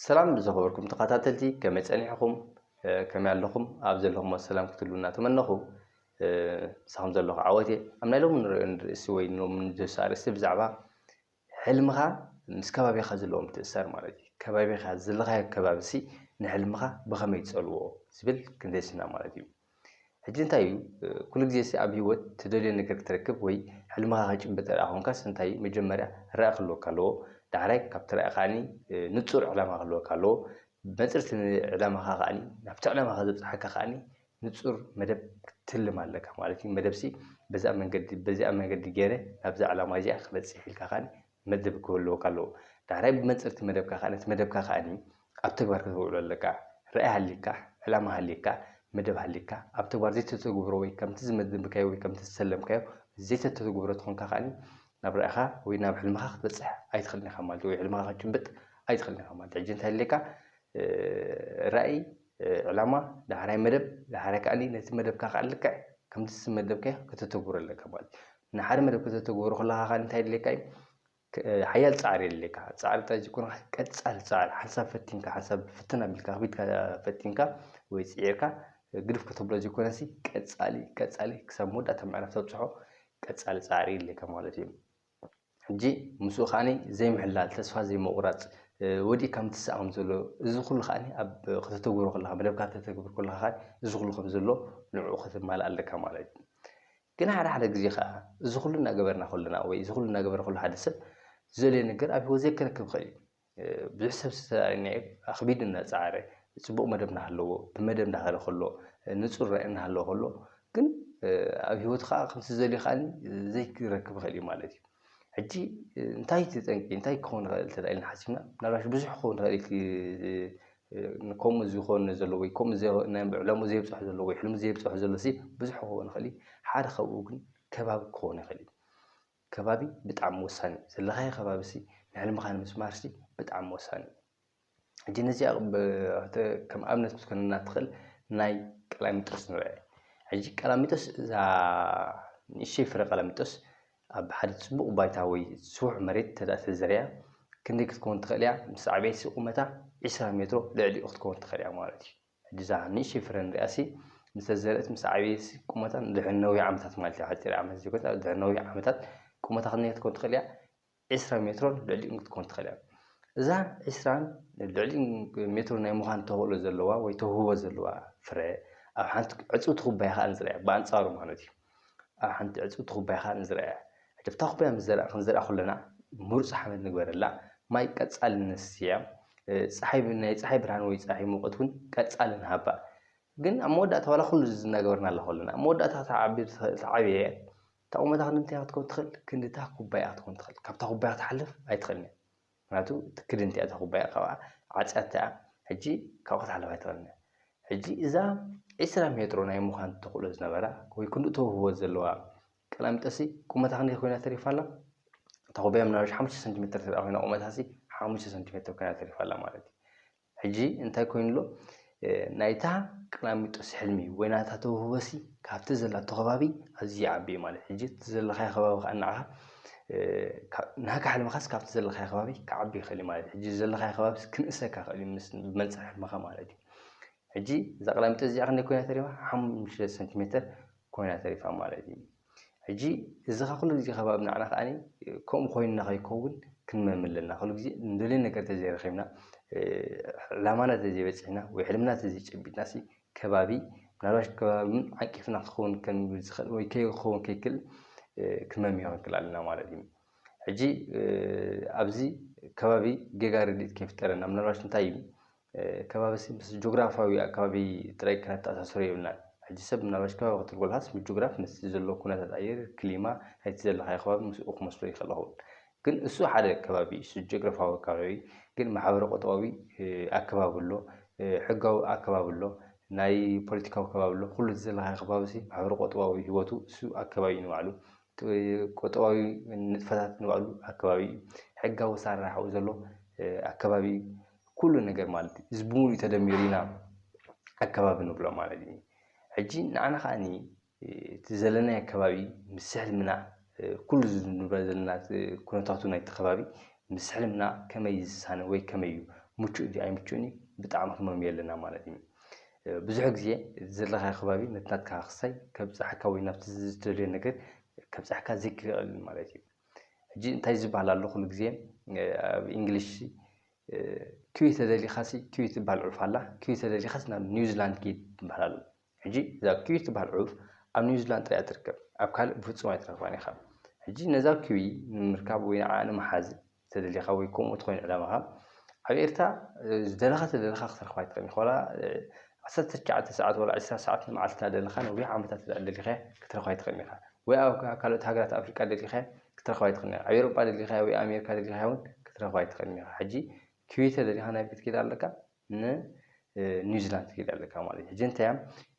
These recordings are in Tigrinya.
ሰላም ዝኸበርኩም ተኸታተልቲ ከመይ ጸኒሕኹም ከመይ ኣለኹም ኣብ ዘለኹም ሰላም ክትሉ እናተመነኹ ምሳኹም ዘለኹ ዓወት እየ ኣብ ናይ ሎሚ ንሪኦ ንርእሲ ወይ ሎሚ ንዘሳ ርእሲ ብዛዕባ ሕልምኻ ምስ ከባቢኻ ዘለዎም ትእሰር ማለት እዩ ከባቢኻ ዘለኻዮ ከባቢሲ ንሕልምኻ ብኸመይ ትጸልዎ ዝብል ክንደስና ማለት እዩ ሕጂ እንታይ እዩ ኩሉ ግዜሲ ኣብ ሂወት ትደልዮ ነገር ክትረክብ ወይ ሕልምኻ ክትጭብጥ እንተድኣ ኮንካስ እንታይ እዩ መጀመርያ ራኢ ክህልወካ ኣለዎ ዳሕራይ ካብቲ ራኢ ከኣ ንጹር ዕላማ ክህልወካ ኣለዎ መጽርቲ ዕላማኻ ከኣ ናብቲ ዕላማኻ ዘብጽሓካ ከኣ ንጹር መደብ ክትልም ኣለካ ማለት እዩ መደብሲ በዚ ኣብ መንገዲ በዚኣ መንገዲ ጌረ ናብዛ ዕላማይ እዚኣ ክበጽሕ ኢልካ ከኣ መደብ ክህልወካ ኣለዎ። ዳሕራይ ብመንጽርቲ መደብካ ከኣ ነቲ መደብካ ከኣኒ ኣብ ተግባር ከተውዕሎ ኣለካ። ራኢ ሃልይካ፣ ዕላማ ሃልይካ፣ መደብ ሃልይካ ኣብ ተግባር ዘይተተግብሮ ወይ ከምቲ ዝመደብካዮ ወይ ከምቲ ዝሰለምካዮ ዘይተተግብሮ ተኾንካ ከኣኒ ናብ ራኢኻ ወይ ናብ ሕልምኻ ክትበጽሕ ኣይትኽእልን ኢኻ ማለት እዩ። ወይ ሕልምኻ ክትጭብጥ ኣይትኽእልን ኢኻ ማለት እዩ። ሕጂ እንታይ ኣድልየካ ራኢ፣ ዕላማ፣ ዳሕራይ መደብ፣ ዳሕራይ ከኣኒ ነቲ መደብካ ከኣ ልክዕ ከምቲ ዝመደብካዮ ከተተግብሮ ኣለካ ማለት እዩ። ንሓደ መደብ ከተተግብሮ ከለኻ ኸኣ እንታይ የድልየካ እዩ? ሓያል ጻዕሪ የድልየካ። ጻዕሪ ጥራይ ዘይኮንካ ቀጻሊ ጻዕሪ፣ ሓንሳብ ፈቲንካ፣ ሓንሳብ ፍትን ኣቢልካ ክቢድካ ፈቲንካ ወይ ጽዒርካ ግድፍ ከተብሎ ዘይኮነሲ ቀጻሊ ቀጻሊ ክሳብ መወዳእታ ምዕራፍ ተብጽሖ ቀጻሊ ጻዕሪ የድልየካ ማለት እዩ። ሕጂ ምስኡ ከኣ ዘይምሕላል፣ ተስፋ ዘይምቑራጽ፣ ወዲእካ ምትሳእ ከም ዘሎ እዚ ኩሉ ከኣ ኣብ ከተተግብሮ ከለኻ መደብካ ከተተግብር ከለኻ እዚ ኩሉ ከም ዘሎ ንዕኡ ከተማልእ ኣለካ ማለት እዩ። ግን ሓደ ሓደ ግዜ ከኣ እዚ ኩሉ እናገበርና ከሎና ወይ እዚ ኩሉ እናገበረ ከሎ ሓደ ሰብ ዝደልዮ ነገር ኣብ ህይወት ዘይከነክብ ይኸእል እዩ። ብዙሕ ሰብ ዝተራኣየናዮ ኣኽቢዱ እናጸዓረ ጽቡቕ መደብ እናሃለዎ ብመደብ እንዳኸደ ከሎ ንጹር ራኢ እናሃለዎ ከሎ ግን ኣብ ህይወቱ ከኣ ከምቲ ዝደልዮ ከኣ ዘይረክብ ይኸእል እዩ ማለት እዩ። ሕጂ እንታይ እቲ ጠንቂ እንታይ ክኸውን ይኸእል እንተ ኢልና ሓሲብና ምናልባሽ ብዙሕ ክኸውን ይኸእል እዩ እቲ ንከምኡ ዝኾኑ ዘሎ ወይ ከምኡ ዘ ናይ ዕላምኡ ዘይብጽሖ ዘሎ ወይ ሕልሙ ዘይብጽሖ ዘሎሲ ብዙሕ ክኸውን ይኽእል እዩ። ሓደ ካብኡ ግን ከባቢ ክኸውን ይኽእል እዩ። ከባቢ ብጣዕሚ ወሳኒ እዩ። ዘለኻዮ ከባቢሲ ንሕልምኻ ንምስማርሲ ብጣዕሚ ወሳኒ እዩ። ሕጂ ነዚኣ ብ ክተ ከም ኣብነት ክትኮነና እትኽእል ናይ ቀላሚጦስ ንርኣ። ሕጂ ቀላሚጦስ እዛ ንእሽተይ ፍረ ቀላሚጦስ ኣብ ሓደ ጽቡቕ ባይታ ወይ ስቡሕ መሬት እንተድኣ ተዘሪኣ ክንደይ ክትከውን ትኽእል እያ? ምስ ዓብየትሲ ቁመታ ዕስራ ሜትሮ ልዕሊኡ ክትከውን ትኽእል እያ ማለት እዩ። ሕጂ እዛ ንእሽተይ ፍረ ንሪኣሲ ምስተዘርት ምስ ዓብየትሲ ቁመታ ንድሕሪ ነዊሕ ዓመታት ማለት እዩ ሓጺር ዓመት ዘይኮነስ ኣብ ድሕሪ ነዊሕ ዓመታት ቁመታ ክንደይ ክትከውን ትኽእል እያ? ዕስራ ሜትሮን ልዕሊኡን ክትከውን ትኽእል እያ። እዛ ዕስራን ልዕሊኡን ሜትሮ ናይ ምዃን ተኽእሎ ዘለዋ ወይ ተውህቦ ዘለዋ ፍረ ኣብ ሓንቲ ዕጽውቲ ኩባያ ከኣ ንዝርኣ ብኣንጻሩ ማለት እዩ። ኣብ ሓንቲ ዕጽውቲ ኩባያ ከኣ ንዝርኣ። ሕጂ ኣብታ ኩባያ ምስ ዘርኣ ክንዘርኣ ከሎና ምሩጽ ሓመድ ንግበረላ፣ ማይ ቀጻሊ ንስቲያ፣ ጸሓይ ናይ ጸሓይ ብርሃን ወይ ጸሓይ ሙቐት ውን ቀጻሊ ንሃባ። ግን ኣብ መወዳእታ ዋላ ኩሉ እዚ እናገበርናላ ከሎና ኣብ መወዳእታ ክትዓቢ ትዓብየ እታ ቁመታ ክንዲ ምንታይ ክትከውን ትኽእል ክንዲ እታ ኩባያ ክትከውን ትኽእል ካብታ ኩባያ ክትሓልፍ ኣይትኽእልን እያ። ምክንያቱ ትክድንቲ እያ እታ ኩባያ ካብኣ ዓጽያቶ እያ ሕጂ ካብኡ ክትሓልፍ ኣይትክእልን እያ ሕጂ እዛ ዕስራ ሜትሮ ናይ ምዃን ተኽእሎ ዝነበራ ወይ ክንድኡ ተውህቦ ዘለዋ ቀላሚጦስሲ ቁመታ ክንደይ ኮይና ተሪፋ ኣላ እታ ኩባያ ምናልባሽ ሓሙሽተ ሰንቲሜተር ተድኣ ኮይና ቁመታሲ ሓሙሽተ ሰንቲሜተር ኮይና ተሪፋ ኣላ ማለት እዩ ሕጂ እንታይ ኮይኑ ኣሎ ናይታ ቀላሚጦስ ሕልሚ ወይ ናታ ተውህቦሲ ካብቲ ዘላቶ ከባቢ ኣዝዩ ይዓቢ እዩ ማለት ሕጂ እቲ ዘለኻዮ ከባቢ ከኣ ንዓኻ ናካ ሕልምኻስ ካብቲ ዘለኻዮ ከባቢ ክዓቢ ይኽእል እዩ ማለት ሕጂ ዘለኻዮ ከባቢስ ክንእሰካ ይኽእል እዩ ምስ ብመንጽር ሕልምኻ ማለት እዩ ሕጂ እዛ ቀላሚጦስ እዚኣ ክንደይ ኮይና ተሪፋ ሓሙሽተ ሰንቲሜተር ኮይና ተሪፋ ማለት እዩ ሕጂ እዚኻ ኩሉ ግዜ ከኣ ኣብ ናዓና ከኣ ከምኡ ኮይንና ከይከውን ክንመም ኣለና ኩሉ ግዜ ንደልዮ ነገር ተዘይረኺብና ዕላማና ተዘይበጺሕና ወይ ሕልምና ተዘይጨቢጥናሲ ከባቢ ምናልባሽ ከባቢ ውን ዓቂፍና ክኸውን ከም ዝኽእል ወይ ከይኸውን ከይክል ክመምዮ ክንክል ኣለና ማለት እዩ ሕጂ ኣብዚ ከባቢ ጌጋ ርድኢት ከይፍጠረና ምናልባሽ እንታይ እዩ ከባቢሲ ምስ ጆግራፍያዊ ኣከባቢ ጥራይ ከነተኣሳስሮ የብልናን። ሕጂ ሰብ ምናልባሽ ከባቢ ክትብል ከሎኻስ ምስ ጆግራፍ ምስቲ ዘሎ ኩነታት ኣየር፣ ክሊማ፣ ናይቲ ዘለኻዮ ከባቢ ምስኡ ክመስሎ ይኸእል ይኸውን። ግን እሱ ሓደ ከባቢ እዩ። እሱ ጆግራፍያዊ ኣከባቢ ግን ማሕበረ-ቁጠባዊ ኣከባቢ ኣሎ፣ ሕጋዊ ኣከባቢ ኣሎ፣ ናይ ፖለቲካዊ ከባቢ ኣሎ። ኩሉ እቲ ዘለኻዮ ከባቢሲ ማሕበረ-ቁጠባዊ ህይወቱ እሱ ኣከባቢ እዩ ንባዕሉ። ቁጠባዊ ንጥፈታት ንባዕሉ ኣከባቢ እዩ። ሕጋዊ ኣሰራርሓኡ ዘሎ ኣከባቢ እዩ። ኩሉ ነገር ማለት እዩ። እዚ ብምሉኡ ተደሚሩ ኢና ኣከባቢ ንብሎ ማለት እዩ። ሕጂ ንዓና ከኣኒ እቲ ዘለናዮ ኣከባቢ ምስ ሕልምና ኩሉ እዚ ንብሎ ዘለና ኩነታቱ ናይቲ ከባቢ ምስ ሕልምና ከመይ ዝሳነ ወይ ከመይ እዩ ምቹእ ድዩ ኣይምቹእን እዩ ብጣዕሚ ክንመምዮ ኣለና ማለት እዩ። ብዙሕ ግዜ ዘለኻዮ ከባቢ ነቲ ናትካ ክሳይ ከብጽሓካ ወይ ናብቲ ዝደልዮ ነገር ከብጽሓካ ዘይክእል ማለት እዩ። ሕጂ እንታይ ዝበሃል ኣሎ ኩሉ ግዜ ኣብ እንግሊሽ ኪዊ ተደሊኻሲ ኪዊ ትበሃል ዑፍ ኣላ ኪዊ ተደሊኻሲ ናብ ኒውዚላንድ ኪድ ትበሃል ኣሎ። ሕጂ እዛ ኪዊ ትበሃል ዑፍ ኣብ ኒውዚላንድ ጥራይ እያ ትርከብ ኣብ ካልእ ብፍጹም ኣይትረኽባን ኢኻ። ሕጂ ነዛ ኪዊ ንምርካብ ወይ ንዓኣ ንምሓዝ ተደሊኻ ወይ ኮምኡ ተኾይኑ ዕላማኻ ኣብ ኤርትራ ዝደለኻ ተደለኻ ክትረኽባ ኣይትኽእልን ኢኻ ዋላ ዓሰርተ ትሽዓተ ሰዓት ዋላ ዕስራ ሰዓት ንመዓልቲ እናደለኻ ነዊሕ ዓመታት እንድሕር ደሊኻያ ክትረኽባ ኣይትኽእልን ኢኻ ወይ ኣብ ካልኦት ሃገራት ኣፍሪቃ ደሊኻያ ክትረኽባ ኣይትኽእልን ኢኻ ኣብ ኤሮጳ ደሊኻያ ወይ ኣሜሪካ ደሊኻያ ውን ክትረኽባ ኣይትኽእልን ኢኻ ሕጂ ክዌተ ደሊኻ ናይ ቤት ጌጋ ኣለካ ንኒውዚላንድ ትከይድ ኣለካ ማለት እዩ። ሕጂ እንታይ እያ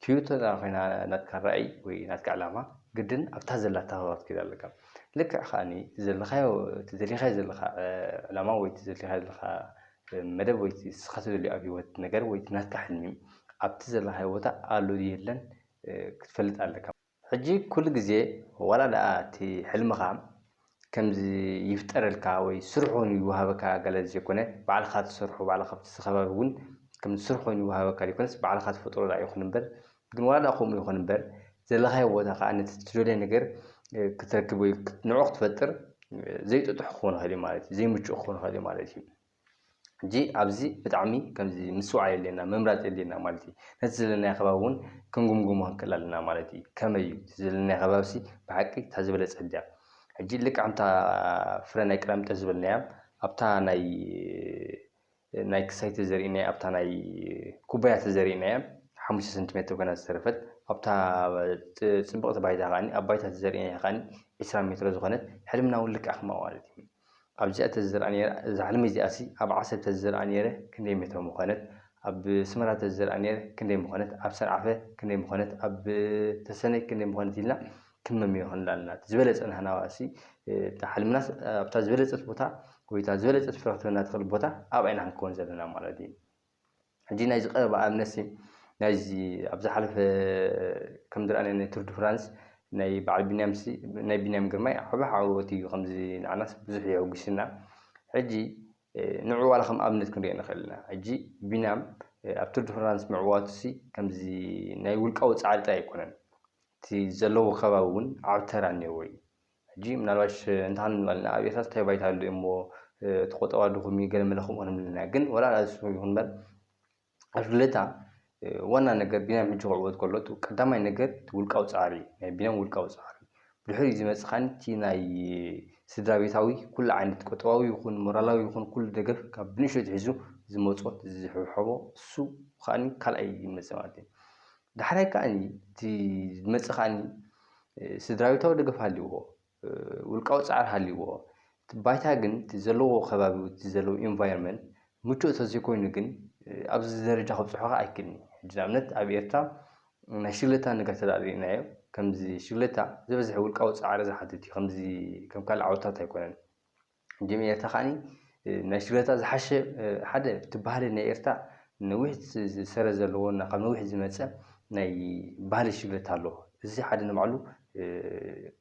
ትዮቶ እዛ ኮይና ናትካ ራእይ ወይ ናትካ ዕላማ ግድን ኣብታ ዘላታ ከባቢ ክትከይድ ኣለካ። ልክዕ ከኣኒ እቲ ዘለኻዮ እቲ ዘሊኻዮ ዘለኻ ዕላማ ወይ እቲ ዘሊኻዮ ዘለኻ መደብ ወይ እቲ ንስኻ ትደልዮ ኣብ ሂወት ነገር ወይ እቲ ናትካ ሕልሚ ኣብቲ ዘለኻዮ ቦታ ኣሎ ድዩ የለን ክትፈልጥ ኣለካ። ሕጂ ኩሉ ግዜ ዋላ ደኣ እቲ ሕልምኻ ከምዚ ይፍጠረልካ ወይ ስሩሕ ኮይኑ ይወሃበካ ኣጋላሊ ዘይኮነ ባዕልኻ ትሰርሖ ባዕልኻ ኣብቲ ከባቢ ውን ከምዚ ስሩሕ ኮይኑ ይወሃበካ ዘይኮነስ ባዕልኻ ትፈጥሮ ደኣ ይኹን እምበር ግን ዋላ ደኣ ከምኡ ይኹን እምበር ዘለኻዮ ቦታ ከኣ ነቲ ትደልዮ ነገር ክትረክብ ወይ ንዕኡ ክትፈጥር ዘይጥጡሕ ክኾን ይኽእል እዩ ማለት እዩ ዘይምቹእ ክኾን ይኽእል እዩ ማለት እዩ። ሕጂ ኣብዚ ብጣዕሚ ከምዚ ምስትውዓል የድልየና ምምራጽ የድልየና ማለት እዩ። ነቲ ዘለናዮ ከባቢ እውን ክንጉምጉሞ ክንክእል ኣለና ማለት እዩ። ከመይ እዩ እቲ ዘለናዮ ከባቢሲ ብሓቂ እታ ዝበለጸት ድያ? ሕጂ ልክዕ ከምታ ፍረ ናይ ቀላሚጦስ ዝበልናያ ኣብታ ናይ ናይ ክሳይ ተዘሪእናያ ኣብታ ናይ ኩባያ ተዘሪእናያ ሓሙሽተ ሰንቲሜተር ኮይና ዝተረፈት ኣብታ ጽ- ጽብቕቲ ባይታ ከኣ ኣብ ባይታ ተዘሪእናያ ከኣ ዕስራ ሜትሮ ዝኾነት ሕልምና እውን ልክዕ ከምኣ ማለት እዩ። ኣብዚኣ ተዝዝርኣ ኔራ እዛ ሕልሚ እዚኣሲ ኣብ ዓሰብ ተዝዝርኣ ኔረ ክንደይ ሜትሮ ምኾነት ኣብ ስመራ ተዝዝርኣ ኔረ ክንደይ ምኾነት ኣብ ሰንዓፈ ክንደይ ምኾነት ኣብ ተሰነይ ክንደይ ምኾነት ኢልና ክንመምዮ ክንብል ኣለና እቲ ዝበለጸ ናህናዋሲ እታ ሕልምናስ ኣብታ ዝበለጸት ቦታ ወይ እታ ዝበለጸት ፍረ ክትበና ትኽእል ቦታ ኣብኣ ኢና ክንከውን ዘለና ማለት እዩ። ሕጂ ናይዚ ቀረባ ኣብነትሲ ናይዚ ኣብ ዝሓለፈ ከም ዝረኣናዮ ናይ ቱር ድ ፍራንስ ናይ በዓል ቢንያምሲ ናይ ቢንያም ግርማይ ዓቢ ዓወት እዩ ከምዚ ንዓናስ ብዙሕ የሕጉስና ሕጂ ንዑ ዋላ ከም ኣብነት ክንሪኦ ንኽእል ኢና ሕጂ ቢንያም ኣብ ቱር ድ ፍራንስ ምዕዋቱሲ ከምዚ ናይ ውልቃዊ ጻዕሪ ጥራይ ኣይኮነን እቲ ዘለዎ ከባቢ እውን ዓቢ ተራ እኒኦዎ እዩ ሕጂ ምናልባሽ እንተሃልም ዝባልና ኣብ ኤርትራስ እንታይ ባይታ ኣሎ እሞ እቲ ቆጠባ ድኹም እዩ ገለ መለ ከምኡ ክንብልና ግን ወላ ንሱ ይኹን እምበር ኣብ ልደታ ዋና ነገር ቢንያም ሕጂ ክዕወት ከሎ እቲ ቀዳማይ ነገር እቲ ውልቃዊ ጻዕሪ እዩ ናይ ቢንያም ውልቃዊ ጻዕሪ ብድሕሪኡ ዝመጽእ ከኣ እቲ ናይ ስድራ ቤታዊ ኩሉ ዓይነት ቁጠባዊ ይኹን ሞራላዊ ይኹን ኩሉ ደገፍ ካብ ብንእሽቶ ኣትሒዙ ዝመጾት ዝሕብሐቦ እሱ ከኣ ካልኣይ ይመጽእ ማለት እዩ ዳሕራይ ከኣኒ እቲ ዝመጽእ ከኣኒ ስድራቤታዊ ደገፍ ሃልይዎ ውልቃዊ ጻዕሪ ሃልይዎ እቲ ባይታ ግን እቲ ዘለዎ ከባቢ ወይ እቲ ዘለዎ ኢንቫይሮመንት ምቹእ ተዘይኮይኑ ግን ኣብዚ ደረጃ ከብጽሖ ከኣ ኣይክእልን እዩ። ሕጂ ንኣብነት ኣብ ኤርትራ ናይ ሽግለታ ነገር እንተ ርኢናዮ ከምዚ ሽግለታ ዝበዝሐ ውልቃዊ ጻዕሪ ዝሓትት እዩ ከምዚ ከም ካልእ ዓውድታት ኣይኮነን። ጀሚረታ ከኣኒ ናይ ሽግረታ ዝሓሸ ሓደ እቲ ባህሊ ናይ ኤርትራ ነዊሕ ሰረት ዘለዎ እና ካብ ነዊሕ ዝመጸ ናይ ባህሊ ሽግረታ ኣሎ እዚ ሓደ ንባዕሉ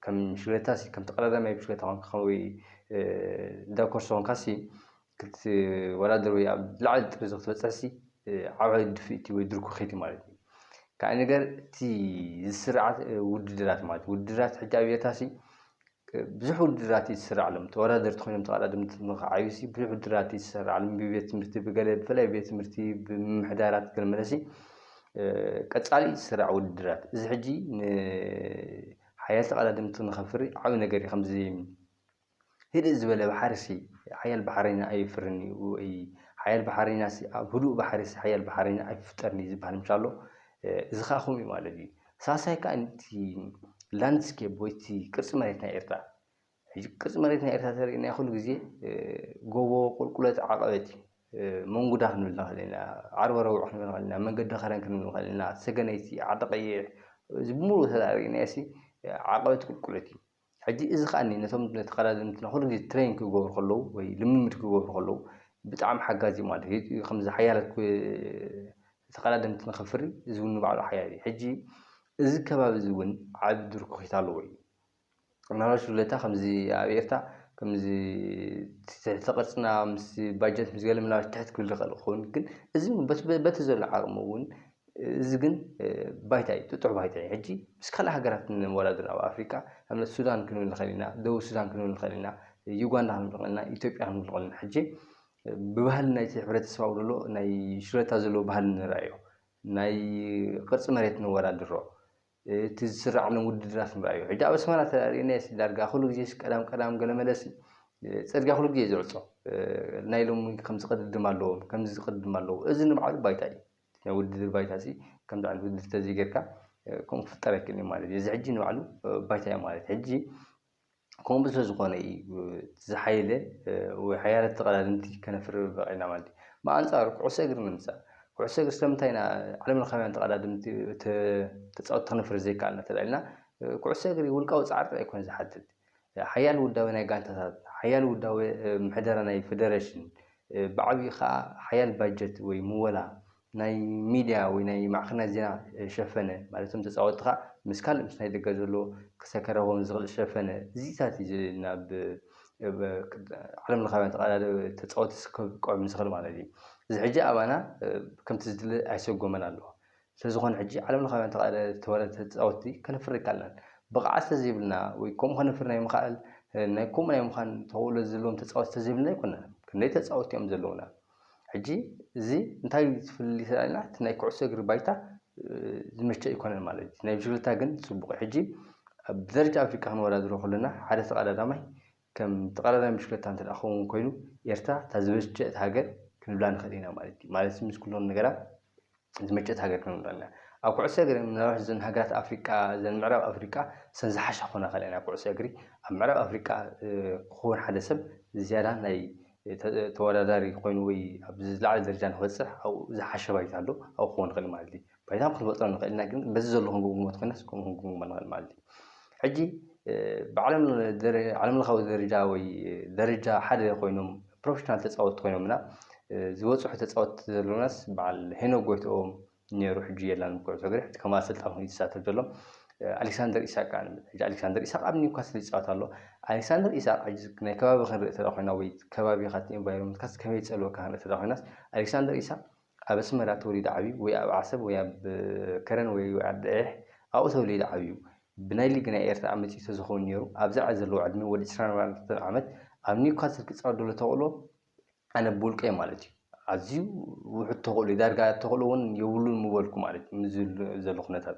ከም ሽግረታ ሲ ከም ተቀዳዳማይ ብሽግረታ ኮንካ ከመይ ዳኮርሶ ኮንካ ሲ ክትወዳደር ወይ ኣብ ዝለዓለ ጥሪ ክትበጽሕ ሲ ዓባይ ድፍኢት እዩ ወይ ድርኩኺት እዩ ማለት እዩ ካልእ ነገር እቲ ዝስርዓት ውድድራት ማለት ውድድራት ሕጂ ኣብ ኤርትራ ሲ ብዙሕ ውድድራት እዩ ዝስረዐሎም። እቲ ተወዳደርቲ ኮይኖም ተቐዳደምቲ ንክዓዩሲ ብዙሕ ውድድራት እዩ ዝሰረዓሎም። ብቤት ትምህርቲ ብገለ ብፍላይ ቤት ትምህርቲ ብምምሕዳራት ገለ መለሲ ቀጻሊ እዩ ዝስራዕ ውድድራት። እዚ ሕጂ ንሓያል ተቐዳደምቲ ንኸፍሪ ዓቢ ነገር እዩ። ከምዚ ህድእ ዝበለ ባሕሪሲ ሓያል ባሕረይና ኣየፍርን እዩ ወይ ሓያል ባሕረይናሲ ኣብ ህዱእ ባሕሪሲ ሓያል ባሕረይና ኣይፍጠርን እዩ ዝብሃል ምቻ ኣሎ። እዚ ከኣ ከምኡ እዩ ማለት እዩ። ሳልሳይ ከኣ እቲ ላንድስኬፕ ወይ እቲ ቅርጺ መሬት ናይ ኤርትራ ሕጂ ቅርጺ መሬት ናይ ኤርትራ እንተሪእና ኩሉ ግዜ ጎቦ፣ ቁልቁለት፣ ዓቐበት እዩ። መንጉዳ ክንብል ንኽእል ኢና፣ ዓርቢ ኣረብዕ ክንብል ንኽእል ኢና፣ መንገዲ ከረን ክንብል ንኽእል ኢና፣ ሰገነይቲ፣ ዓዲ ቐይሕ እዚ ብምሉኡ እንተ ሪእናዮሲ ዓቐበት ቁልቁለት እዩ። ሕጂ እዚ ከኣኒ ነቶም ተኸዳደምትና ኩሉ ግዜ ትሬን ክገብሩ ከለዉ ወይ ልምምድ ክገብሩ ከለዉ ብጣዕሚ ሓጋዚ እዩ ማለት እዩ። ከምዚ ሓያላት ተኸዳደምቲ ንኸፍሪ እዚ እውን ንባዕሉ ሓያል እዩ። ሕጂ እዚ ከባቢ እዚ እውን ዓቢ ዱር ክኺታ ኣለዎ እዩ። ምናልባት ሽለታ ከምዚ ኣብ ኤርትራ ከምዚ ትሕቲ ቅርጽና ምስ ባጀት ምስ ገለ ምናልባት ትሕት ክብል ይኽእል ክኸውን ግን እዚ እውን በቲ ዘሎ ዓቕሚ እውን እዚ ግን ባይታ እዩ ጥጡሕ ባይታ እዩ ሕጂ ምስ ካልእ ሃገራት ነወዳድር ኣብ ኣፍሪቃ ኣብነት ሱዳን ክንብል ንክእል ኢና ደቡብ ሱዳን ክንብል ንክእል ኢና ዩጋንዳ ክንብል ንክእል ኢና ኢትዮጵያ ክንብል ንክእል ኢና ሕጂ ብባህሊ ናይቲ ሕብረተሰብ ኣብኡ ዘሎ ናይ ሽረታ ዘለዎ ባህሊ ንርኣዮ ናይ ቅርጺ መሬት ነወዳድሮ እቲ ዝስረዓሎም ውድድራት ንርኣዮ ሕጂ ኣብ ኣስመራ ተርእናዮሲ ዳርጋ ኩሉ ግዜሲ ቀዳም ቀዳም ገለ መለሲ ጽርግያ ኩሉ ግዜ እዩ ዝዕጾ ናይ ሎሚ ከምዚ ቅድድም ኣለዎም ከምዚ ቅድድም ኣለዎም እዚ ንባዕሉ ባይታ እዩ። ናይ ውድድር ባይታሲ ከምዚ ዓይነት ውድድር ተዘይገርካ ከምኡ ክፍጠር ኣይክእልን እዩ ማለት እዩ። እዚ ሕጂ ንባዕሉ ባይታ እዩ ማለት ሕጂ ከምኡ ስለዝኾነ እዩ ዝሓየለ ወይ ሓያለት ተቐዳደምቲ ከነፍሪ በቒዕና ማለት እዩ። ብኣንጻሩ ኩዕሶ እግሪ ንምጻእ ኩዕሶ እግሪ ስለምንታይ ኢና ዓለም ለኻውያን ተቐዳደምቲ ተጻወቲ ከነፍሪ ዘይከኣልና እንተድኣ ኢልና ኩዕሶ እግሪ ውልቃዊ ጻዕሪ ጥራይ ኣይኮነን ዝሓትት ሓያል ውዳቤ ናይ ጋንታታት፣ ሓያል ውዳቤ ምሕደራ ናይ ፈደረሽን፣ ብዓቢኡ ከኣ ሓያል ባጀት ወይ ምወላ ናይ ሚድያ ወይ ናይ ማዕከናት ዜና ሸፈነ፣ ማለት እቶም ተጻወትኻ ምስ ካልእ ምስ ናይ ደገ ዘሎ ክሰከረዎም ዝኽእል ሸፈነ፣ እዚታት እዩ ናብ ዓለምለኻውያን ተቐዳደ ተጻወትስ ከብቅዑም ዝኽእል ማለት እዩ። እዚ ሕጂ ኣባና ከምቲ ዝድለ ኣይሰጎመን ኣሎ። ስለዝኾነ ሕጂ ዓለም ለኻውያን ተቓለ ተዋዳደርቲ ተጻወትቲ ከነፍሪ ኣይከኣልናን። ብቕዓት ስለዘይብልና ወይ ከምኡ ከነፍሪ ናይ ምኽኣል ናይ ከምኡ ናይ ምዃን ተኽእሎ ዘለዎም ተጻወትቲ ስለዘይብልና ኣይኮናን። ክንደይ ተጻወትቲ እዮም ዘለዉና። ሕጂ እዚ እንታይ ዝፍልልይ ተላኢልና እቲ ናይ ኩዕሶ እግሪ ባይታ ዝምችእ ኣይኮነን ማለት እዩ። ናይ ብሽክለታ ግን ጽቡቕ እዩ። ሕጂ ኣብ ደረጃ ኣፍሪቃ ክንወዳድሮ ከሎና ሓደ ተቐዳዳማይ ከም ጠቕላላይ ምሽክለታ እንተ ደኣ ክኸውን ኮይኑ ኤርትራ እታ ዝመቸት ሃገር ክንብላ ንኽእል ኢና ማለት እዩ። ማለት ምስ ኩሎም ነገራት ዝመቸት ሃገር ክንብላ ኢና። ኣብ ኩዕሶ እግሪ ምናልባት እዘን ሃገራት ኣፍሪቃ እዘን ምዕራብ ኣፍሪቃ እሰን ዝሓሻ ክኾና ይኽእላ እየን ኣብ ኩዕሶ እግሪ። ኣብ ምዕራብ ኣፍሪቃ ክኸውን ሓደ ሰብ ዝያዳ ናይ ተወዳዳሪ ኮይኑ ወይ ኣብ ዝለዓለ ደረጃ ንኽበጽሕ ኣብኡ ዝሓሸ ባይታ ኣሎ ኣብኡ ክኸውን ይኽእል ማለት እዩ። ባይታ ክንፈጥሮ ንኽእል ኢና ግን በዚ ዘሎ ክንግምግሞ እንተኾይናስ ከምኡ ክንግምግሞ ንኽእል ማለት እዩ። ሕጂ ብዓለም ዓለም ለኻዊ ደረጃ ወይ ደረጃ ሓደ ኮይኖም ፕሮፌሽናል ተጻወትቲ ኮይኖምና ዝበጽሑ ተጻወትቲ ዘለናስ በዓል ሄኖክ ጎይትኦም ነይሩ ሕጂ የላን ኩዕሶ እግሪ ሕጂ ከም ኣሰልጣኒ ኮይኑ ዝሳተፍ ዘሎ ኣሌክሳንደር ኢሳቅ ከዓ ሕጂ ኣሌክሳንደር ኢሳቅ ኣብ ኒውካስል ይጻወት ኣሎ ኣሌክሳንደር ኢሳቅ ሕጂ ናይ ከባቢ ክንርኢ ተዳ ኮይና ወይ ከባቢኻት ኢንቫይሮንመንትካስ ከመይ ይጸልወካ ክንርኢ ተዳ ኮይናስ ኣሌክሳንደር ኢሳቅ ኣብ ኣስመራ ተወሊዱ ዓብዩ ወይ ኣብ ዓሰብ ወይ ኣብ ከረን ወይ ኣብ ዓዲ ዒሕ ኣብኡ ተወሊዱ ዓብዩ ብናይ ሊግ ናይ ኤርትራ ኣመጺኡ ተዝከውን ኔሩ ኣብዚ ዓዲ ዘለዎ ዕድሚኡ ወዲ ዕስራን ኣርባዕተን ዓመት ኣብ ኒውካስል ክጻወት ደሎ ተክእሎ ኣነ ብውልቀይ ማለት እዩ ኣዝዩ ውሑድ ተክእሎ እዩ ዳርጋ ተክእሎ ውን የብሉን ምበልኩ ማለት እዩ ምስዚ ዘሎ ኩነታት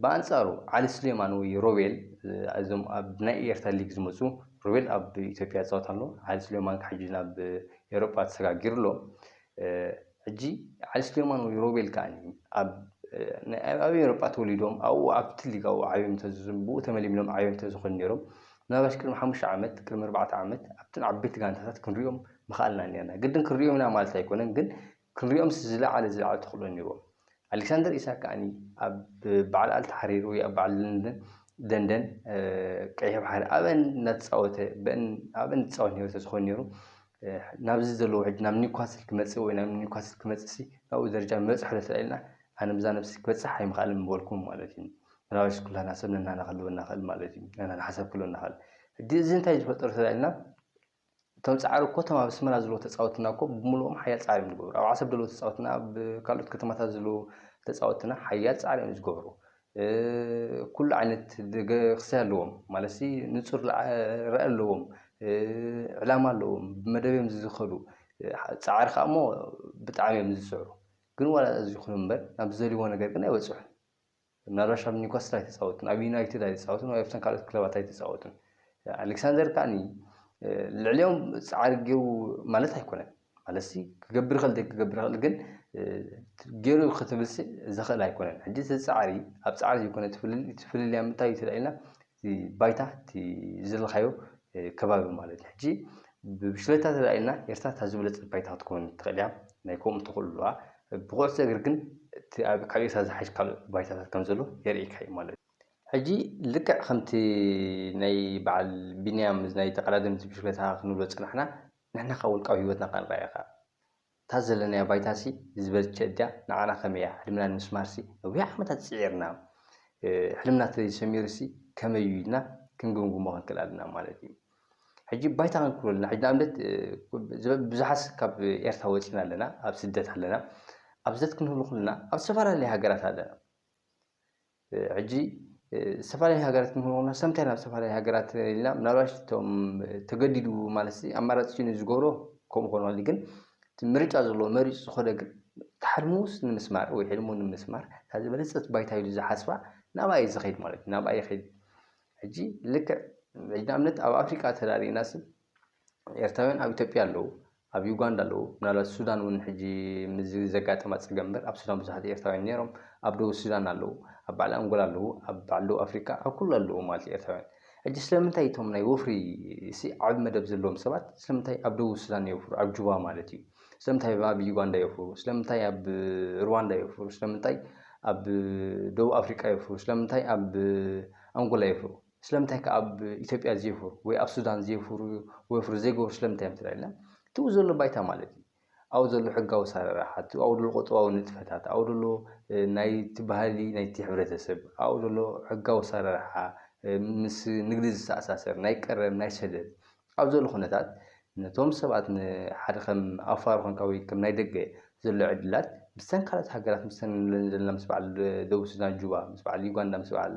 ብኣንጻሩ ዓሊ ስሌማን ወይ ሮቤል እዞም ኣብ ናይ ኤርትራ ሊግ ዝመጹ ሮቤል ኣብ ኢትዮጵያ ይጻወት ኣሎ ዓሊ ስሌማን ከኣ ሕጂ ናብ ኤውሮጳ ተሰጋጊሩ ኣሎ ሕጂ ዓሊ ስሌማን ወይ ሮቤል ከኣ ኣብ ኣብ ኤውሮጳ ተወሊዶም ኣብኡ ኣብቲ ሊግ ኣብኡ ዓብዮም እንተዝዝም ብኡ ተመሊምሎም ዓብዮም እንተዝኾኑ ነይሮም ምናልባሽ ቅድሚ ሓሙሽተ ዓመት ቅድሚ ኣርባዕተ ዓመት ኣብተን ዓበይቲ ጋንታታት ክንሪኦም ምኸኣልና ኔርና ግድን ክንሪኦም ኢና ማለት ኣይኮነን ግን ክንሪኦምስ ዝለዓለ ዝለዓለ ተኽእሎ ነይርዎም። ኣሌክሳንደር ኢሳክ ከኣ ኣብ በዓል ኣልታሕሪር ወይ ኣብ በዓል ለንደን ደንደን ቀይሕ ባሕሪ ኣብአን እናተፃወተ በን ኣብአን ዝፃወት ነይሩ ተዝኾን ነይሩ ናብዚ ዘለዎ ሕጂ ናብ ኒውካስል ክመፅእ ወይ ናብ ኒውካስል ክመፅእ ሲ ናብኡ ደረጃ ምበፅሐ ዶ ተላኢልና ኣነ ብዛ ነብሲ ክበፅሕ ኣይምኽኣልን ምበልኩ ማለት እዩ ምናልባሽ ኩላና ሰብ ነናና ክህልወና ክእል ማለት እዩ ነናና ሓሳብ ክህልወና ክእል ሕጂ እዚ እንታይ ዝፈጠሩ ተላኢልና እቶም ጻዕሪ እኮ እቶም ኣብ ኣስመራ ዝለዉ ተጻወትና እኮ ብምሉኦም ሓያል ጻዕሪ እዮም ዝገብሩ ኣብ ዓሰብ ደለዉ ተጻወትና ኣብ ካልኦት ከተማታት ዝለዉ ተጻወትና ሓያል ጻዕሪ እዮም ዝገብሩ ኩሉ ዓይነት ደገ ክሰይ ኣለዎም ማለትሲ ንጹር ራኢ ኣለዎም ዕላማ ኣለዎም ብመደብ እዮም ዝዝኸዱ ጻዕሪ ከኣ እሞ ብጣዕሚ እዮም ዝጽዕሩ ግን ዋላ እዚ ይኹን እምበር ናብ ዝደልዎ ነገር ግን ኣይበጽሑን። ብናራሽ ኣብ ኒውካስል ኣይተጻወትን፣ ኣብ ዩናይትድ ኣይተጻወትን ወይ ኣብተን ካልኦት ክለባት ኣይተጻወትን። ኣሌክሳንደር ከኣኒ ልዕሊኦም ጻዕሪ ገይሩ ማለት ኣይኮነን። ማለትሲ ክገብር ይኽእል ዘይክገብር ይኽእል ግን ገይሩ ክትብልሲ ዘኽእል ኣይኮነን። ሕጂ እቲ ጻዕሪ ኣብ ጻዕሪ ዘይኮነ እቲ ፍልልይ ኣብ ምንታይ እዩ ተላዒልና እቲ ባይታ እቲ ዝደለኻዮ ከባቢ ማለት እዩ። ሕጂ ብብሽክለታ ተዳኢልና ኤርትራ እታ ዝበለጸት ባይታ ክትከውን ትኽእል እያ፣ ናይ ከምኡ ተኽእሎ ኣለዋ። ብኩዕሶ እግሪ ግን እቲ ኣብ ካብ ኤርትራ ዝሓይሽ ካልእ ባይታታት ከም ዘሎ የርእየካ እዩ ማለት እዩ። ሕጂ ልክዕ ከምቲ ናይ በዓል ቢንያም ናይ ተቐዳደምቲ ብሽክለታ ክንብሎ ዝጸናሕና ንሕና ከኣ ውልቃዊ ህይወትና ክንርኣይ ኢኻ። እታ ዘለናያ ባይታሲ ዝበልቸት ድያ ንዓና ከመይ እያ ሕልምና ንምስማርሲ ነዊሕ ዓመታት ጽዒርና ሕልምና ተለይ ሰሚሩሲ ከመይ እዩ ኢልና ክንግምግሞ ክንክእል ኣለና ማለት እዩ ሕጂ ባይታ ክንክሎ ኣለና ሕጂ ንኣብነት ብዙሓት ካብ ኤርትራ ወጺና ኣለና ኣብ ስደት ኣለና ኣብ ስደት ክንህሉ ኩልና ኣብ ዝተፈላለየ ሃገራት ኣለና ሕጂ ዝተፈላለየ ሃገራት ንክንኮና ሰብ እንታይ ናብ ዝተፈላለየ ሃገራት ኢልና ምናልባሽ እቶም ተገዲዱ ማለት ኣማራጺ ሲኑ ዝገብሮ ከምኡ ክኾን ይኽእል ግን እቲ ምርጫ ዘለዎ መሪጹ ዝኸደ ግን እቲ ሓልሙስ ንምስማር ወይ ሕልሙ ንምስማር እታ ዝበለጸት ባይታ ኢሉ ዝሓስባ ናብኣ እዩ ዝኸይድ ማለት እዩ ናብኣ ይኸይድ ሕጂ ልክዕ ሕጂ ንኣብነት ኣብ ኣፍሪቃ ተራእና ስብ ኤርትራውያን ኣብ ኢትዮጵያ ኣለዉ፣ ኣብ ዩጋንዳ ኣለዉ፣ ምናልባት ሱዳን እውን ሕጂ ምስዚ ዘጋጠማ ጸገም እምበር ኣብ ሱዳን ብዙሓት ኤርትራውያን ነይሮም፣ ኣብ ደቡብ ሱዳን ኣለዉ፣ ኣብ በዓል ኣንጎላ ኣለዉ፣ ኣብ በዓል ደቡብ ኣፍሪቃ ኣብ ኩሉ ኣለዉ ማለት እዩ ኤርትራውያን። ሕጂ ስለምንታይ እቶም ናይ ወፍሪ'ሲ ዓቢ መደብ ዘለዎም ሰባት ስለምንታይ ኣብ ደቡብ ሱዳን የውፍሩ ኣብ ጁባ ማለት እዩ፣ ስለምንታይ ኣብ ዩጋንዳ የውፍሩ፣ ስለምንታይ ኣብ ርዋንዳ የውፍሩ፣ ስለምንታይ ኣብ ደቡብ ኣፍሪቃ የውፍሩ፣ ስለምንታይ ኣብ ኣንጎላ የውፍሩ። ስለምንታይ ከ ኣብ ኢትዮጵያ ዘይፈሩ ወይ ኣብ ሱዳን ዘይፈሩ ወፍሪ ዘይገብሩ ስለምንታይ እዮም እንተኢልና እቲ ኣብኡ ዘሎ ባይታ ማለት እዩ ኣብኡ ዘሎ ሕጋዊ ኣሰራርሓ እቲ ኣብኡ ዘሎ ቁጠባዊ ንጥፈታት ኣብኡ ዘሎ ናይቲ ባህሊ ናይቲ ሕብረተሰብ ኣብኡ ዘሎ ሕጋዊ ኣሰራርሓ ምስ ንግዲ ዝተኣሳሰር ናይ ቀረብ ናይ ሰደድ ኣብ ዘሎ ኩነታት ነቶም ሰባት ንሓደ ከም ኣፋር ኮንካ ወይ ከም ናይ ደገ ዘሎ ዕድላት ምስተን ካልኦት ሃገራት ምስተን ንብለን ዘለና ምስ በዓል ደቡብ ሱዳን ጁባ ምስ በዓል ዩጋንዳ ምስ በዓል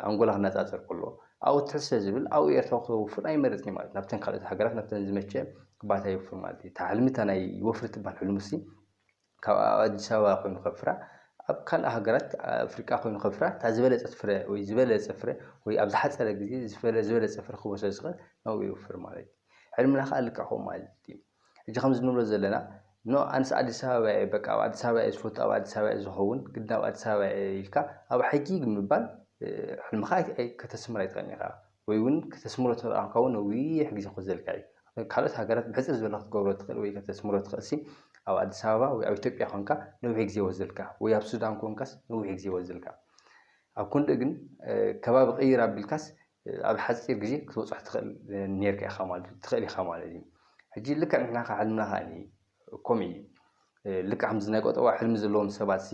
ኣንጎላ ክነጻጸር ከሎ ኣብኡ ትሕት ስለ ዝብል ኣብኡ ኤርትራዊ ክተውፍር ኣይመርጽን እዩ ማለት ናብተን ካልኦት ሃገራት ናብተን ዝመቸ ባታ ይውፍር ማለት እዩ። እታ ሕልሚ እታ ናይ ወፍሪ ትበሃል ሕልሙሲ ካብ ኣብ ኣዲስ ኣበባ ኮይኑ ከፍራ ኣብ ካልእ ሃገራት ኣፍሪቃ ኮይኑ ከፍራ እታ ዝበለጸት ፍረ ወይ ዝበለጸ ፍረ ወይ ኣብ ዝሓጸረ ግዜ ዝፈለ ዝበለጸ ፍረ ክህቦ ስለ ዝኽእል ናብኡ የውፍር ማለት እዩ። ሕልምና ከኣ ልክዕ ከምኡ ማለት እዩ። ሕጂ ከምዚ ንብሎ ዘለና ኖ ኣነስ ኣዲስ ኣበባ እየ በቃ ኣብ ኣዲስ ኣበባ እየ ዝፈቱ ኣብ ኣዲስ ኣበባ እየ ዝኸውን ግድን ኣብ ኣዲስ ኣበባ እየ ኢልካ ኣብ ሕጂ ምባል ሕልምኻ ኣይ ኣይ ከተስምር ኣይትኽእልን ኢኻ። ወይ ውን ከተስምሮ ትኽእል ቛንቋ ውን ነዊሕ ግዜ ክወስድ ዘልካ እዩ ኣብ ካልኦት ሃገራት ብሕጽር ዝበለ ክትገብሮ ትኽእል ወይ ከተስምሮ ትኽእል ሲ ኣብ ኣዲስ ኣበባ ወይ ኣብ ኢትዮጵያ ኮንካ ነዊሕ ግዜ ይወስደልካ ወይ ኣብ ሱዳን ኮንካስ ነዊሕ ግዜ ይወስደልካ ኣብ ኮንደኡ ግን ከባቢ ቅይር ኣቢልካስ ኣብ ሓጺር ግዜ ክትበጽሖ ትኽእል ኔርካ ኢኻ ማለት ትኽእል ኢኻ ማለት እዩ ሕጂ ልክዕ ንሕና ካብ ሕልምና ከኣ ከምኡ እዩ ልክዕ ከምዚ ናይ ቆጠባ ሕልሚ ዘለዎም ሰባት ሲ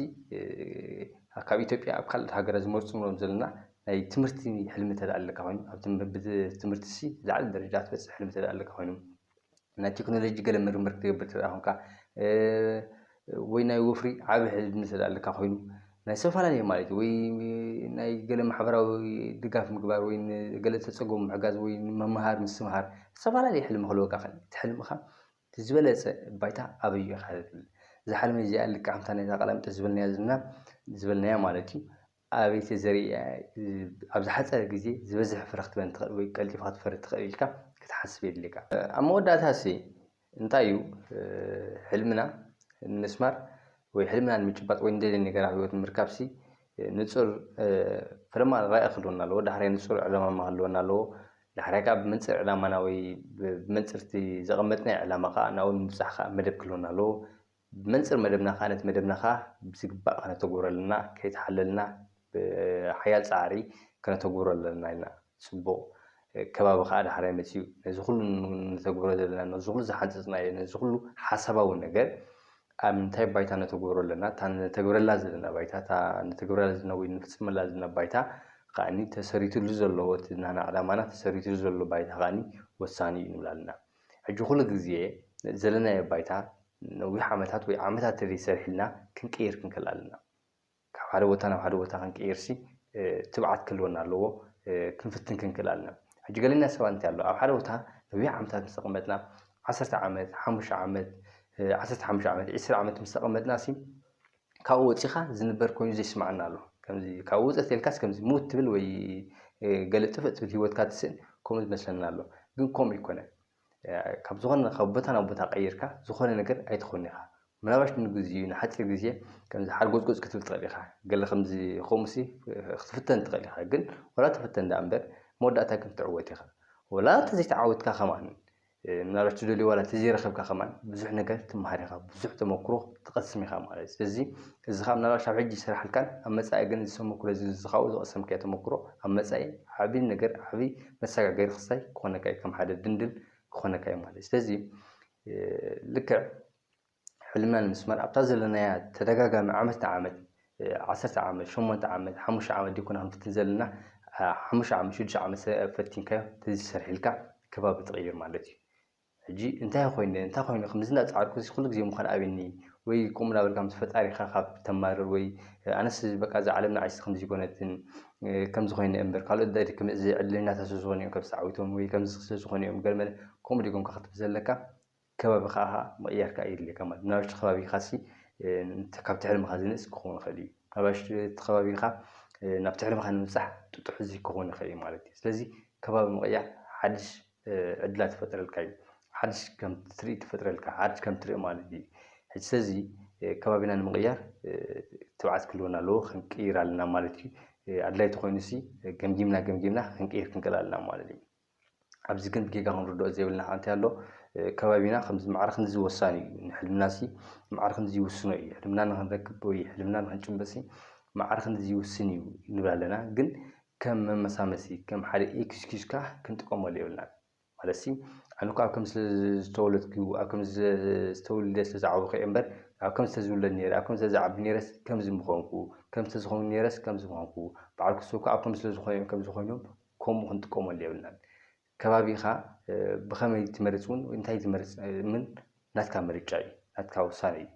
ካብ ኢትዮጵያ ኣብ ካልኦት ሃገራት ዝመርጹ ንብሎም ዘለና ናይ ትምህርቲ ሕልሚ እንተ ኣለካ ኮይኑ ኣብ ትምህርቲ ሲ ዝለዓለ ደረጃ ክትበጽሕ ሕልሚ እንተ ኣለካ ኮይኑ ናይ ቴክኖሎጂ ገለ ምርምር ክትገብር እንተ ኮንካ ወይ ናይ ወፍሪ ዓቢ ሕልሚ እንተ ኣለካ ኮይኑ ናይ ዝተፈላለየ ማለት እዩ ወይ ናይ ገለ ማሕበራዊ ድጋፍ ምግባር ወይ ንገለ ዝተጸገሙ ምሕጋዝ ወይ ምምሃር ምስትምሃር ዝተፈላለየ ሕልሚ ክህልወካ ይክእል እዩ እቲ ሕልምካ እቲ ዝበለጸ ባይታ ኣበይ እዩ ኢኻ ትብል? እዛ ሕርሚ እዚኣ ልክዕ ከምታ ናይዛ ቀላሚጦስ ዝበልናያ ዘለና ዝበልናያ ማለት እዩ ኣበይ ተዘሪኣ ኣብ ዝሓጸረ ግዜ ዝበዝሕ ፍረ ክትበን ትኽእል ወይ ቀልጢፋ ክትፈሪ ትኽእል ኢልካ ክትሓስብ የድልየካ። ኣብ መወዳእታሲ እንታይ እዩ ሕልምና ንምስማር ወይ ሕልምና ንምጭባጥ ወይ ንደልዮ ነገር ኣብ ህይወት ንምርካብሲ ንጹር ፈለማ ራኢ ክህልወና ኣለዎ። ዳሕራይ ንጹር ዕላማ ክህልወና ኣለዎ። ንሓርያ ከኣ ብመንጽር ዕላማና ወይ ብመንጽር'ቲ ዘቐመጥናዮ ዕላማ ከኣ ናብኡ ንምብጻሕ ከኣ መደብ ክህልወና ኣለዎ። ብመንጽር መደብና ከኣ ነቲ መደብና ከኣ ብዝግባእ ከነተግብሮ ኣለና። ከይተሓለልና ብሓያል ጻዕሪ ከነተግብሮ ኣለና ኢልና። ጽቡቕ ከባቢ ከኣ ዳሕራይ መጺኡ። ነዚ ኩሉ ንተግብሮ ዘለና ነዚ ኩሉ ዝሓንጸጽናዮ ነዚ ኩሉ ሓሳባዊ ነገር ኣብ ምንታይ ባይታ ነተግብሮ ኣለና፣ እታ ነተግብረላ ዘለና ባይታ፣ እታ ነተግብረላ ዘለና ወይ ንፍጽመላ ዘለና ባይታ ከኣኒ ተሰሪትሉ ዘሎ እቲ ናህና ዕላማና ተሰሪትሉ ዘሎ ባይታ ከኣኒ ወሳኒ እዩ ንብል ኣለና። ሕጂ ኩሉ ግዜ ዘለናዮ ባይታ ነዊሕ ዓመታት ወይ ዓመታት ተዘይ ሰሪሕልና ክንቅይር ክንክል ኣለና። ካብ ሓደ ቦታ ናብ ሓደ ቦታ ክንቅይርሲ ትብዓት ክህልወና ኣለዎ ክንፍትን ክንክእል ኣለና ሕጂ ገለና ሰባት እንታይ ኣሎ ኣብ ሓደ ቦታ ነዊሕ ዓመታት ምስ ተቀመጥና ዓሰርተ ዓመት ሓሙሽተ ዓመት ዓሰርተ ሓሙሽተ ዓመት ዕስራ ዓመት ምስ ተቀመጥናሲ ካብኡ ወጺኻ ዝንበር ኮይኑ ዘይስምዓና ኣሎ ከምዚ ካብኡ ውጽእ ተልካስ ከምዚ ምውት ትብል ወይ ገለ ጥፍእ ትብል ሂወትካ ትስእን ከምኡ ዝመስለና ኣሎ ግን ከምኡ ኣይኮነን ካብ ዝኾነ ካብ ቦታ ናብ ቦታ ቀይርካ ዝኾነ ነገር ኣይትኾን ኢኻ ምናባሽ ንግዚኡ ንሓጺር ግዜ ከምዚ ሓርጎጽጎጽ ክትብል ትኽእል ኢኻ ገለ ከምዚ ኹምሲ ክትፍተን ትኽእል ኢኻ ግን ወላ ተፈተን ደኣ እምበር መወዳእታ ግን ክትዕወት ኢኻ ወላ እንተ ዘይተዓወትካ ከማን ምናልባሽ ትደልዮ ዋላ እንተ ዘይረኸብካ ከማን ብዙሕ ነገር ትመሃር ኢኻ ብዙሕ ተመክሮ ትቐስም ኢኻ ማለት ስለዚ እዚ ኻኣ ምናልባሽ ኣብ ሕጂ ኣይሰራሓልካን ኣብ መጻኢ ግን እዚ ተመክሮ እዚ እዚ ኻኡ ዝቐሰምካዮ ተመክሮ ኣብ መጻኢ ዓቢ ነገር ዓቢ መሰጋገሪ ክሳይ ክኾነካ እዩ ከም ሓደ ድንድል ክኾነካ እዩ ማለት እዩ። ስለዚ ልክዕ ሕልምና ንምስማር ኣብታ ዘለናያ ተደጋጋሚ ዓመት ንዓመት ዓሰርተ ዓመት ሸሞንተ ዓመት ሓሙሽተ ዓመት ዲኮና ክንፍትን ዘለና ሓሙሽተ ዓመት ሽዱሽተ ዓመት ፈቲንካዮ ተዘይሰርሒልካ ከባቢ ትቕይር ማለት እዩ። ሕጂ እንታይ ኮይነ እንታይ ኮይነ ክምዚ እንዳጸዓርኩሲ ኩሉ ግዜ ምኳን ኣብኒ ወይ ቁም እንዳበልካ ምስ ፈጣሪካ ካብ ተማርር ወይ ኣነስ በቃ እዛ ዓለም ንዓይሲ ክምዚ ኮነትን ከምዚ ኮይነ እምበር ካልኦት ዳዲ ክምዚ ዕድለኛታት ስለ ዝኮኑ እዮም ከምዚ ተዓዊቶም ወይ ከምዚ ስለ ዝኮኑ እዮም ገለመለ ከምኡ ድዩ ኮንካ ክትብል ዘለካ ከባቢካ ከኣ ምቅያር ከኣ የድልየካ ማለት እዩ ናብሽቲ ከባቢካሲ ንቲ ካብቲ ሕልምካ ዝንእስ ክኮን ይክእል እዩ ናባሽቲ እቲ ከባቢካ ናብቲ ሕልምካ ንምብጻሕ ጥጡሕ ዝይ ክኮን ይክእል እዩ ማለት እዩ ስለዚ ከባቢ ምቅያር ሓድሽ ዕድላት ይፈጥረልካ እዩ። ሓድሽ ከም ትርኢ ትፈጥረልካ ሓድሽ ከም ትርኢ ማለት እዩ። ሕጂ ሰዚ ከባቢና ንምቕያር ትብዓት ክህልወና ኣለዎ ክንቅይር ኣለና ማለት እዩ። ኣድላይ ተኾይኑሲ ገምጊምና ገምጊምና ክንቅይር ክንክእል ኣለና ማለት እዩ። ኣብዚ ግን ብጌጋ ክንርድኦ ዘይብልና ሓንቲ ኣሎ። ከባቢና ከምዚ ማዕረ ክንዚ ወሳኒ እዩ። ንሕልምናሲ ማዕረ ክንዚ ይውስኖ እዩ። ሕልምና ንክንረክብ ወይ ሕልምና ንክንጭበጥሲ ማዕረ ክንዚ ይውስን እዩ ንብል ኣለና። ግን ከም መመሳመሲ ከም ሓደ ኤክስኪዩዝ ከኣ ክንጥቀመሉ የብልናን። ማለትሲ ኣነ እኮ ኣብ ከምዚ ስለ ዝተወለድኩ ኣብ ከምዚ ዝተውልደ ስለ ዝዓበኹ እየ እምበር ኣብ ከምዚ ተዝውለድ ነይረ ኣብ ከምዚ ተዝዓቢ ነይረስ ከምዚ ምኾንኩ ከምዚ ተዝኸውን ነይረስ ከምዚ ምኾንኩ በዓል ኩስቶ እኮ ኣብ ከምዚ ስለ ዝኾኑ እዮም ከምዚ ኮይኖም ከምኡ ክንጥቀመሉ የብልናን። ከባቢኻ ብኸመይ ትመርጽ ውን ወይ እንታይ ትመርጽ ምን ናትካ ምርጫ እዩ፣ ናትካ ውሳነ እዩ።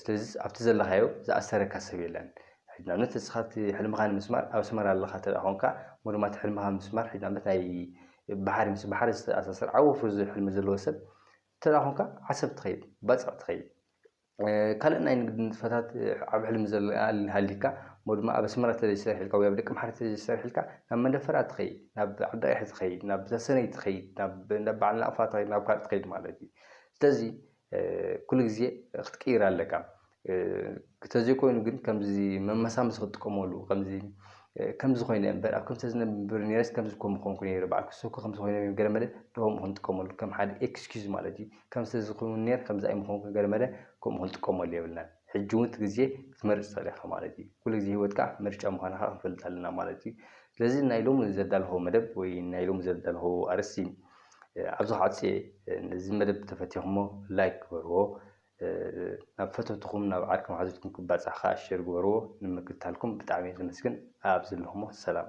ስለዚ ኣብቲ ዘለኻዮ ዝኣሰረካ ሰብ የለን። ሕጂ ንኣብነት ንስኻ እቲ ሕልምኻ ንምስማር ኣብ ኣስመራ ኣለኻ እንተ ኾንካ እሞ ድማ እቲ ሕልምኻ ምስማር ሕጂ ንኣብነት ናይ ባሕሪ ምስ ባሕሪ ዝተኣሳሰር ዓቢ ወፍሪ ዝብል ሕልሚ ዘለዎ ሰብ እንተ ኾንካ ዓሰብ ትኸይድ፣ ባጽዕ ትኸይድ። ካልእ ናይ ንግዲ ንጥፈታት ዓብ ሕልሚ ዘለ ኣልሃሊካ እሞ ድማ ኣብ ኣስመራ ተዘይሰርሕ ኢልካ ወይ ኣብ ደቂ ምሓረ ተዘይሰርሕ ኢልካ ናብ መንደፈራ ትኸይድ ናብ ዓዲ ቀይሕ ትኸይድ ናብ ተሰነይ ትኸይድ ናብ እንዳ በዓል ናቕፋ ትኸይድ ናብ ካልእ ትኸይድ ማለት እዩ ስለዚ ኩሉ ግዜ ክትቅይር ኣለካ ተዘይኮይኑ ግን ከምዚ መመሳመሲ ክትጥቀመሉ ከምዚ ከምዚ ኮይነ እምበር ኣብ ከምዚ ተዝነብር ነይረስ ከምዚ እኮ ምኾንኩ ነይረ በዓል ክስኩ ከምዚ ኮይነ ገለ መለ ዶም ክንጥቀመሉ ከም ሓደ ኤክስኪዩዝ ማለት እዩ ከምስ እዚ ክውን ነር ከምዚ ኣይምኾንኩ ገለመለ ከምኡ ክንጥቀመሉ የብልናን ሕጂ ውን እቲ ግዜ ክትመርጽ ትኽእል ኢኻ ማለት እዩ ኩሉ ግዜ ሂወትካ ምርጫ ምዃና ከኣ ክንፈልጥ ኣለና ማለት እዩ ስለዚ ናይ ሎሚ ዘዳለኹዎ መደብ ወይ ናይ ሎሚ ዘዳለኹዎ ኣርእስቲ ኣብዚ ክዓጽ እየ ነዚ መደብ ተፈቲኹሞ ላይክ ግበርዎ ናብ ፈተውትኹም ናብ ዓርኪ መሓዙትኩም ክባጻሕ ከኣ ሸር ግበርዎ ንምክትታልኩም ብጣዕሚ እየ ዘመስግን ኣብ ዘለኹሞ ሰላም